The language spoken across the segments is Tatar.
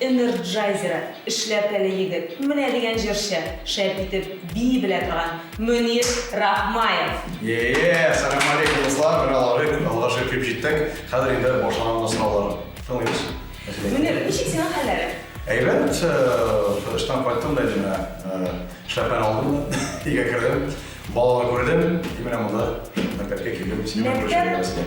Энерджайзеры эшләп әле егет, менә дигән җырчы, шәп итеп бии белә торган Мөнир Рахмаев. Еее, сәлам алейкум дуслар, менә алары бит, Аллага шөкер җиттек, хәзер инде башланды сораулар, тыңлыйбыз. Мөнир, ничек синең хәлләрең? Әйбәт, эштән кайттым да инде менә шляпаны алдым да өйгә кердем, балаларны күрдем, и менә монда мәктәпкә килдем, синең белән күрешергә.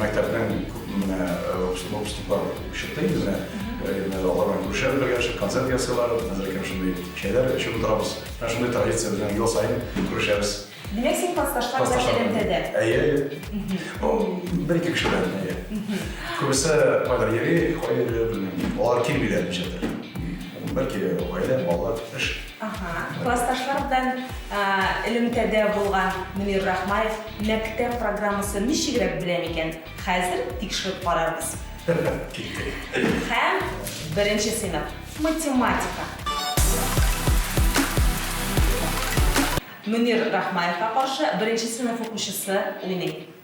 Мәктәпнең күпме генә выпускниклар чыкты инде менә. Менә алар белән күрешәбез бергәләшеп, концерт ясыйлар, хәзер әкрен шундый чәйләр эчеп утырабыз. Менә шундый традиция безнең ел саен күрешәбез. Димәк, син классташлар белән элемтәдә? Әйе, әйе. Ну, бер-ике кеше белән, әйе. Күбесе кайдыр йөри, кая йөриләр, белмим. Алар килмиләр ничектер. Бәлки, гаилә, балалар, эш. Аһа, классташлар белән элемтәдә булган Мөнир Рахмаев мәктәп программасын ничегрәк белә микән? Хәзер тикшереп карарбыз. Һәм беренче сыйныф, математика. Мөнир Рахмаевка каршы беренче сыйныф укучысы уйный.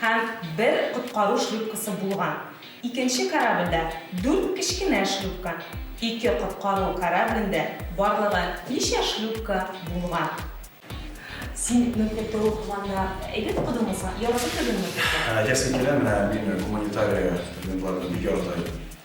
һәм бер коткару шлюпкасы булган. Икенче корабльдә дүрт кечкенә шлюпка, ике коткару кораблендә барлыгы ничә шлюпка булган? Син мөмкин тору планда әйбәт укыдыңмы соң? Яратып кергәнме курска? Әйтәсем килә, менә мин гуманитария студентларны бик ярата идем.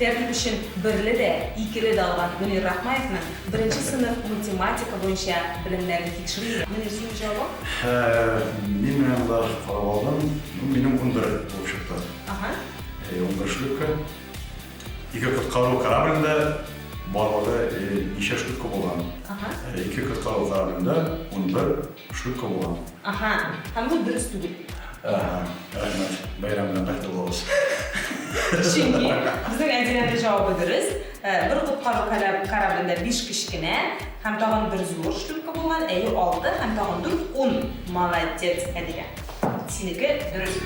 Тәкъдим өчен берле дә, икеле дә алган Мөнир Рахмаевның беренче сыйныф математика буенча белемнәрен тикшерик. Мөнир, синең җавабың? Һә, мин менә монда карап алдым. Ну, минем унбер булып чыкты. Аһа. Әйе, унбер шлюпка. Ике коткару кораблендә барлыгы ничә шлюпка булган? Аһа. Ике коткару кораблендә унбер шлюпка булган. Аха, һәм бу дөрес түгел. Аха, рәхмәт, бәйрәм белән бер тулыгыз. Чөнки безнең Әдиләнең җавабы дөрес. Э, бер коткару кораблендә биш кечкенә һәм тагын бер зур шлюпка булган, әйе, алты һәм тагын дүрт, ун. Молодец, Әдилә. Синеке дөрес.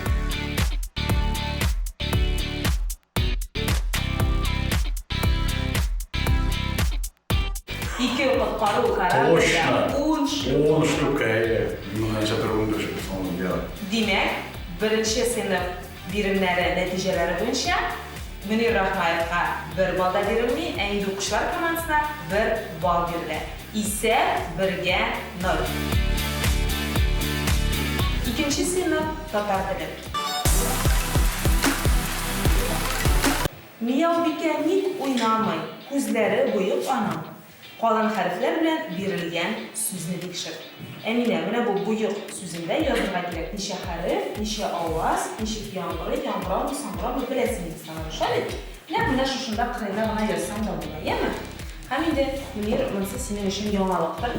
Ике коткару корабльдә ун шлюпка. Ун шлюпка, әйе. Меңнәрчә төр ундүрт шлюпканы йөри. Димәк, беренче сыйныф биремнәре нәтиҗәләре буенча Мөнир Рахмаевка бер балл да бирелми, ә инде укучылар командасына бер балл бирелә. Исәп бергә ноль. Икенче сыйныф татар теле. Мияубикә ник уйнамый, күзләре боек аның, калын хәрефләр белән бирелгән сүзне тикшер. Әминә, менә бу боек сүзендә язырга кирәк, ничә хәреф, ничә аваз, ничек яңгырый, яңгырамы, саңгырамы, беләсең инде син аны, шулай бит? Нәкъ менә шушында кырыена гына язсаң да була, яме? Һәм инде, Мөнир, монысы синең өчен яңалыктыр.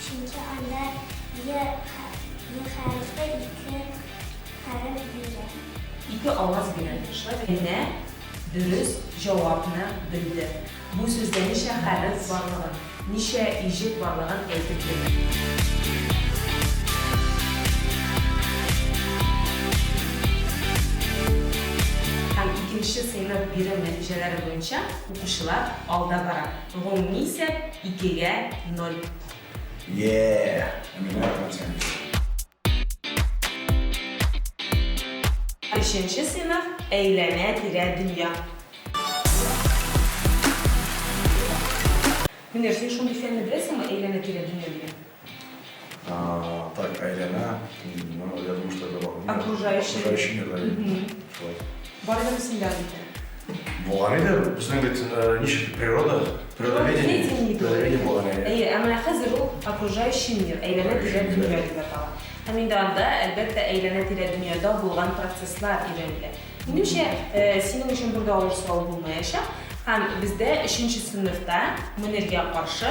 Чөнки анда е хәрефе ике хәреф бирә. Ике аваз бирә. Шулай бит? Генә дөрес җавапны белде. Бу сүздә ничә хәреф барлыгын, ничә иҗек барлыгын әйтеп бирде. Һәм икенче сыйныф бирем нәтиҗәләре буенча укучылар алда бара. Гомуми исәп, икегә, ноль. Еее! Әмирне яратам сине. Өченче сыйныф әйләнә-тирә дөнья. Мөнир, син шундый фәнне беләсеңме, әйләнә-тирә дөнья дигән? Так, әйләнә, я думаю, что это окружающий мир, да, шулай. Бар да мисендә икән. Булган иде, безнең бит ничек природа, природоведение, природоведение булган иде. Әйе, әмма хәзер ул окружающий мир, әйләнә-тирә дөнья дип атала. Һәм инде анда, әлбәттә, әйләнә-тирә дөньяда булган процесслар өйрәнелә. Минемчә, синең өчен бер дә авыр сорау булмаячак. Һәм бездә өченче сыйныфта Мөниргә каршы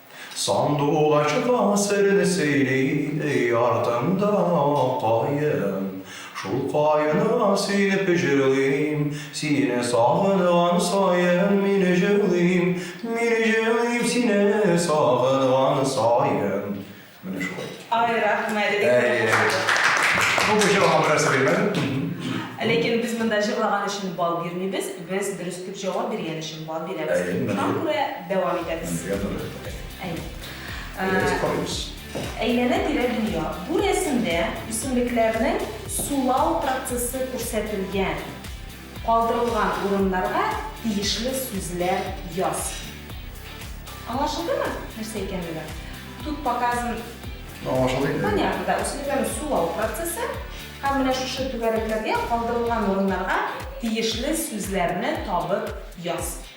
Сандугачка серне сөйли, өй артында каен. Шул каенга сөенеп җырлыйм, сине сагынган саен мин җырлыйм, мин җырлыйм сине сагынган саен. Менә шулай. Ай, рәхмәт. Бу кеше аңа бераз сөйләмәде. Ләкин без монда җырлаган өчен бал бирмибез, без дөрес дип җавап биргән өчен бал бирәбез. Шуңа күрә дәвам итәбез. Әйе. Әйдәгез карыйбыз. Әйләнә-тирә дөнья. Бу рәсемдә үсемлекләрнең сулау процессы күрсәтелгән. Калдырылган урыннарга тиешле сүзләр яз. Аңлашылдымы, нәрсә икәнлеге? Тут показан. Аңлашылды инде. Понятно, да, үсемлекләрне сулау процессы. Һәм менә шушы түгәрәкләргә калдырылган урыннарга тиешле сүзләрне табып яз.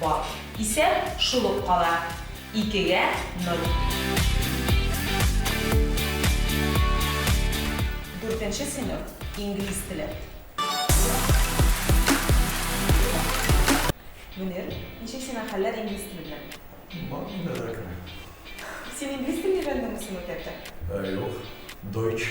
бар. Исәп шул ук кала, икегә нуль. Дүртенче сыйныф, инглиз теле. Мөнир, ничек сиңа хәлләр инглиз теле белән? Бар, нидәләр генә. Син инглиз телен өйрәндеңме соң мәктәптә? Юк, дойч.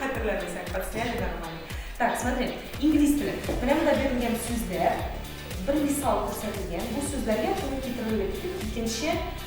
Хәтерләмәсәң, подсняли нормально. Так, смотри, инглиз теле. Менә монда бирелгән сүзләр, бер мисал күрсәтелгән. Бу сүзләргә туры китерергә икенче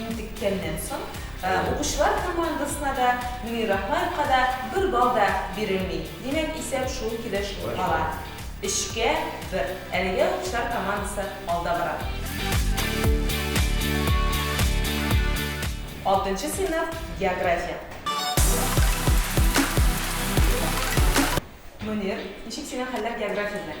Интеккәннән соң, укучылар командасына да, Мөнир Рахмаевка да бер балл да бирелми. Димәк, исәп шул килеш кала, өчкә бер. Әлегә укучылар командасы алда бара. Алтынчы сыйныф, география. Мөнир, ничек синең хәлләр география белән?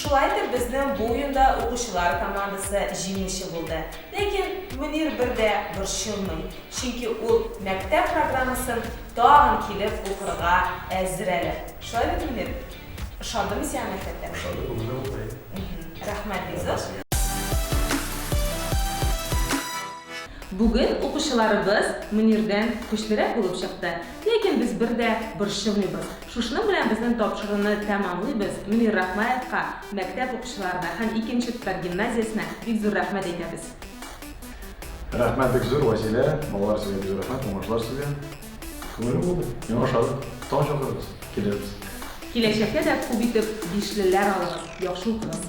Шулай итеп, безнең бу уенда укучылар командасы җиңүче булды. Ләкин Мөнир бер дә борчылмый, чөнки ул мәктәп программасын тагын килеп укырга әзер әле. Шулай бит, Мөнир? Ошадымы сиңа мәктәптә? Ошады, бүген дә укыйм. Рәхмәт, Илсур. Бүген укучыларыбыз Мөнирдән көчлерәк булып чыкты. Ләкин без бер дә борчылмыйбыз, Шушының белән безнең тапшыруны тәмамлыйбыз, Мөнир Рахмаевка, мәктәп укучыларына һәм икенче Тпар гимназиясенә бик зур рәхмәт әйтәбез. Рәхмәт бик зур, Вәсилә, балалар сезгә бик зур рәхмәт, уңышлар сезгә. Күңелле булды, мин ашадым, тагын чакырыгыз, килербез. Киләчәктә дә күп итеп бишлеләр алыгыз, яхшы укыгыз.